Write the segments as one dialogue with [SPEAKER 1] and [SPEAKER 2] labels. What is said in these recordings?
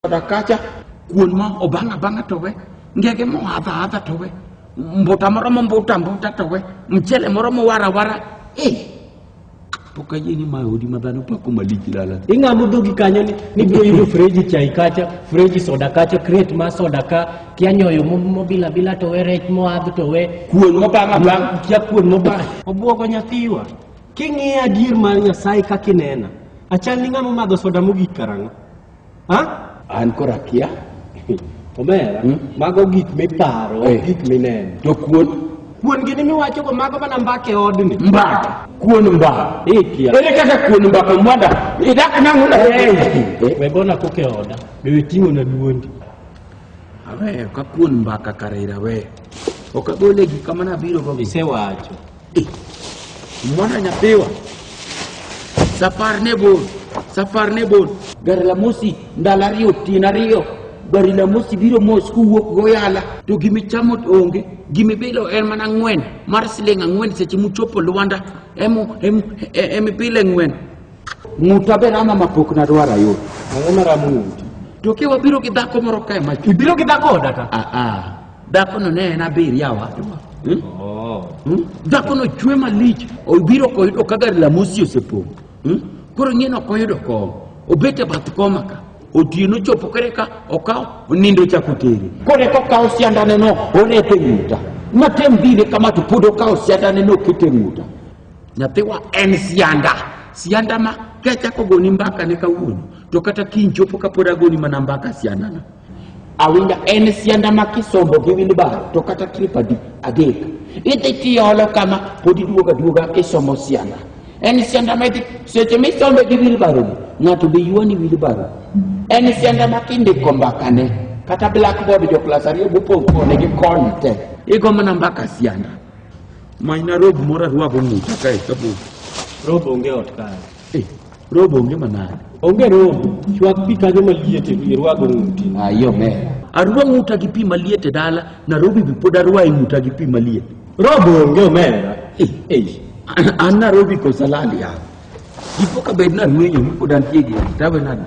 [SPEAKER 1] koda kacha, kuon ma obang' abang'a to we, ngege mo adha adha to we, mbuta moro mo mbuta mbuta to we, mchele moro mo wara wara. Eh, pok ayie ni mae odi ma dhano pako malich lala. Ing'amo dhogi kanyo ni nibiro yudo freji chai kacha, freji soda kacha, crate ma soda ka, kia nyoyo mo- mobila bila to we, rech moadh to we, Kuon mo bang' abang'. kia kuon mobang'. Obwogo nyathiwa. King'iyo adier mar Nyasaye kaka inena, achal ni ng'ama omadho soda mogik karang'o? Ha? An koro akia. Omera, Hmm? mago gik miparo, Eh. gik mineno. To kuon Kuon gini miwacho go mago mana mbake odni. mbaka. Kuon mbaka. Ikia. Ere kaka kuon mbaka mwada? Idak nangu na. We bona koke oda. Be we ting'o na duondi. Awe, ka kuon mbaka kare ira we. Okagole gik kamana biro go. Isewacho. Mwana nyapewa safar ne bor safar ne bor gari la mosi ndalo ariyo otieno ariyo gari la mosi biro mos kuwuok goyala to gimichamo onge gimibilo en mana ng'wen mar siling' ang'wen seche muchopo lwanda emibile e, ng'wen ng'uta ber ama mapok nadwar ayud ang'o maramo ng'uti to ke wabiro gi dhako moro kae mach ibiro gi dhako odata aa ah, ah. Dhakono ne en abir yawa. Hmm? Oh. Hmm? Dhakono chwe malich, obiro koyudo ka gari la mosi osepong'. Hmm? Koro ng'e no koyudo kom, obete bath koma ka. Otieno chopo kare ka okaw onindo chako tere. Kore ko kaw siandane no orete ng'uta. Matem dine kama to pod okaw siandane no kete ng'uta. Nyathiwa en sianda, sianda ma kachako goni mbaka ne kawuono to kata kiny chopo kapod agoni mana mbaka siandana. Awinja en sianda ma kisombo gi wilbar to kata trip adi adek idhi tiolo kama pod iduoga duoga kisomo sianda. En sianda ma idhi seche misombe gi wilbaro ni ng'ato be yuani wilbaro. En sianda ma kindiko mbakane kata blackboard jo klas ariyo bopong' kode gi kony te igo mana mbaka sianda. Manyna rob moro arwago ng'uta kae kapok. Rob onge ot kae. Eh, rob onge manade. Onge rob, chwak pi kanyo maliet irwago ng'uti. Ah, yo me. Arwa ng'uta gi pi maliet e dala, Narobi be pod arwa e ng'uta gi pi maliet. Rob onge omera. Eh, eh. An Narobi kosa lal ya. Dipo ka bed narwenyo mi pod antie gi tawe nade.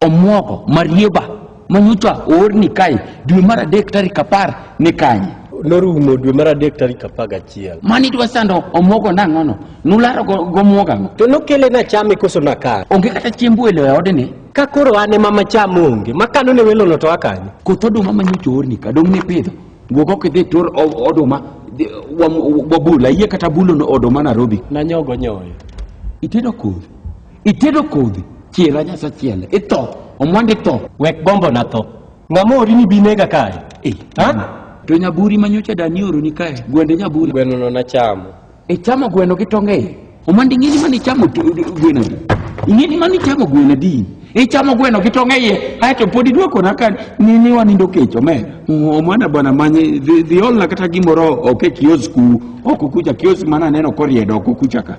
[SPEAKER 1] Omuogo, marieba manyocha oor ni kae dwe mar adek tarik apar ni kanye? Norumo dwe mar adek tarik apar gachiel. Mani dwa sando omuogo nang'ono? Nularo gomuogo ang'o? To nokele na chame koso na kar. Onge kata chiemb welo e odni. Ka koro an ema macham onge, makano ne welono to akanyo. Koth oduma manyocha oor ni ka dong' ne pidho. Wuog ok idhi tur oduma wabula, yie kata bulo oduma Nairobi. Nanyogo nyoyo. Itedo kodhi. Itedo kodhi, chiera nyasa chiele, itho, omwandi tho. Wek bombo na tho. Ng'ama ori ni binega kae? Eh, Ha? To nyaburi manyocha dani oro ni kae, gwende nyaburi. Gweno no nachamo. Ichamo gweno gi tonge iye. Omwandi ing'eni mani chamo to- gweno di. Ing'eni mani chamo gweno di. Ichamo gweno gi tonge iye, aeto pod iduoko na ka ni ni wanindo kech omer. Omwana bwana manye dhi dhi olna kata gimoro ok e kiosk ku, ok kucha kiosk mana neno koriedo ok kucha ka.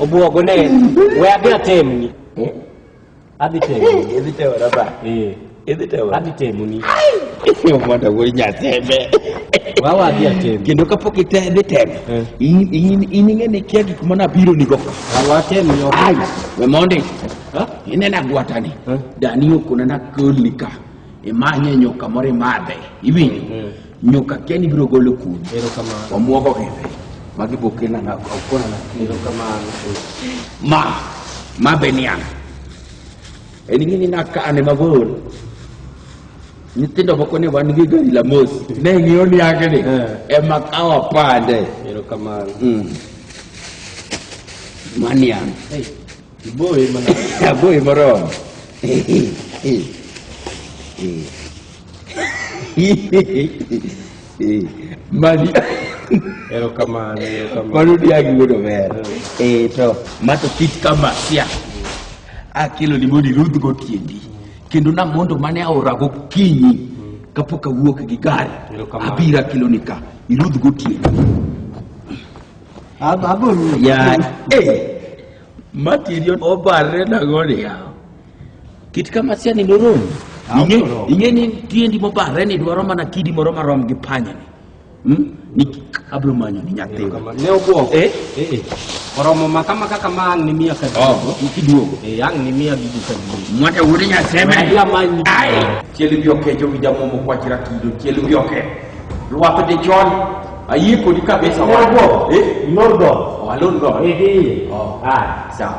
[SPEAKER 1] Obuogo ne we adhi atemni. Adhi temni. Idhi tewa raba. Eh. Idhi tewa. Adhi temni. Mondo wuoyi nyateme. Wawa adhi atemni. Kendo kapok itedhi tem. Eh. In in in ing'e ni kia gik mana biro ni go. Wawa atemni ok. Ai, we mondi. Ha? Inena gwatani. Eh. Dani okona na kolika. Imanye nyoka moro imadhe. Iwinjo. Nyuka keni biro golo kudi. Erokamano. Wamuogo kende. Magi bokena na okona na. Erokamano. Ma ma benian. En ngini na ka ane mabor. Nyithindo moko ne wan gi gari la mos. Ne ng'iyo ni yake ni. Eh. Ema kawa pande. Erokamano. Mm. Manian. Hey. Boy mana. Boy moro. Eh. Eh. Mani Erokamano, erokamano. mano diagi wuodo ber. Eh to mato kit kama sia. Akelo ni mondo irudh go tiendi. Kendo na mondo mane aora go kinyi kapok awuok gi gari. Erokamano. Abira kelo ni ka irudh go tiendi. Ab- aboro. Ya eh matirion obarre na gode ya. Kit kama sia ni norom. Inge inge ni tiendi mo bare ni dwaro mana kidi moro marom gi panya ni. Hmm? Ni abro manyo ni nyathi. Ne obuo. Eh? Eh eh. Oromo makama kaka ma ang ni mia ka duogo. Oh, kiduogo. Eh ang ni mia gi ka duogo. Mwata wuri nya seme. Ya manyi. Ai. Cheli bi oke jo wija mo mo kwa chira kido. Cheli bi oke. Luwape de chon. Ayi ko di kabisa. Lordo. Eh? Lordo. Oh, lordo. Eh eh. Oh. Ah, sawa.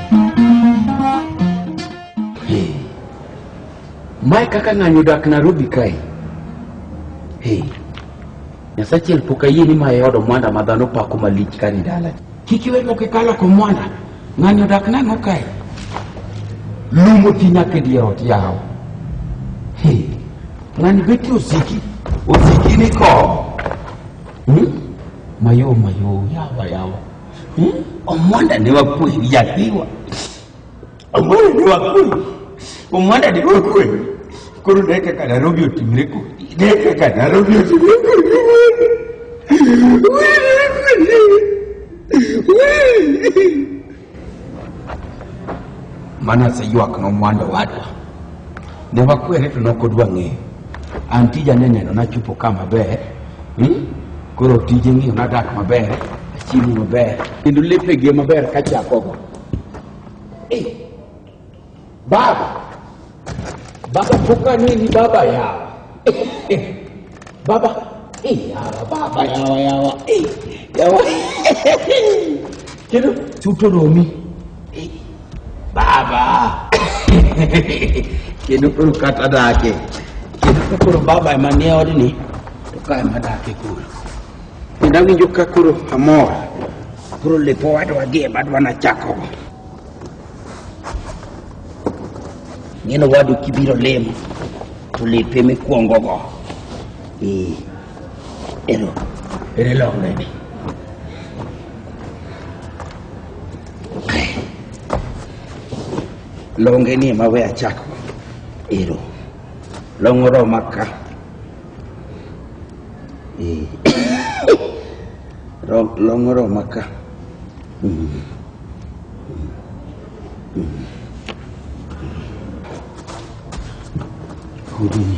[SPEAKER 1] Mae kaka ng'anyo odak Nairobi kae. Hey. Nyasachiel pok ayie ni mae odo mwanda ma dhano pako malich ka ni dala. Kik iwe pok ikalo ko mwanda. Ng'anyo odak nang'o kae? Lum oti nyaka e dier ot yawo. Hey. Ng'ani beti osiki. Osiki ni ko. Hmm? Mayo mayo yawa yawa. Hmm? Omwanda ne wakwe yathiwa. Omwanda ne wakwe. Omwanda ne wakwe. Koro ne kaka Nairobi otimre kodi. Ne kaka Nairobi otimre kodi. Mana seywak nomwanda wadwa. Ne wakwere to nokodwa ng'eyo. An tija ne neno nachopo ka maber Hmm? Koro tije ng'iyo nadak maber, achiemo maber, kendo lepe gi maber kachakogo. Eh, baba, baba poka nini baba yawa. Eh, baba, eh, yawa, baba yawa yawa, eh, yawa. kenan cuto domi eh, baba kenan ɗin ka ta da ake kenan ka kuro baba ma ne wani ne to ka ma da ake kuro idan kin jukka kuro amor kuro le po wado wadi e badwa na chako ngeno wadu kibiro lemo to lepe me kuongo go eh Hello. It is long, baby. Longe ni ema we achako. Ero. Long oroma ka. Eh. Ro- Long oroma ka. Mm. Mm. Hudini.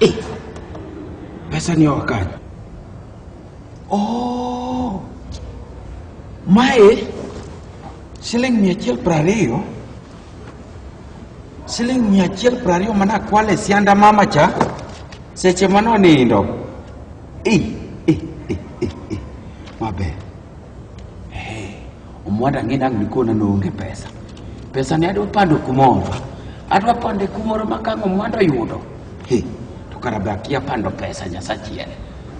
[SPEAKER 1] Eh, pesa ni wakati. Oh. Mae siling mia achiel prariyo siling mia achiel prariyo mana kwale sianda mama cha seche mano nindo. Eh, eh, eh, eh, eh. Maber. Omwada ng'e dang' nikona noonge pesa. Pesa ne adwa pando kumoro. Adwa pande kumoro ma kang' omwada oyudo. He, to kara be akia pando pesa nyasachiel.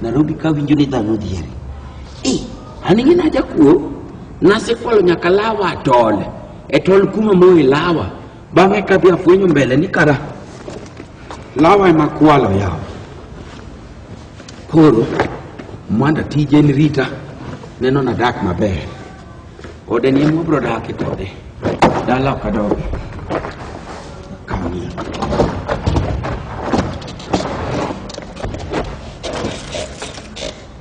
[SPEAKER 1] Nairobi ka winjo ni dhano dhieri. Eh, an ing'e najakuo. Nasekwalo nyaka lawa atole. E tol kuma moe lawa. Bang'e kadhi afwenyo mbele ni kara lawa ema kwalo yawa. Koro mwanda tije en rita neno na dak maber. Ode ni ema wabro dake kode. Dala ok adog. Kamie.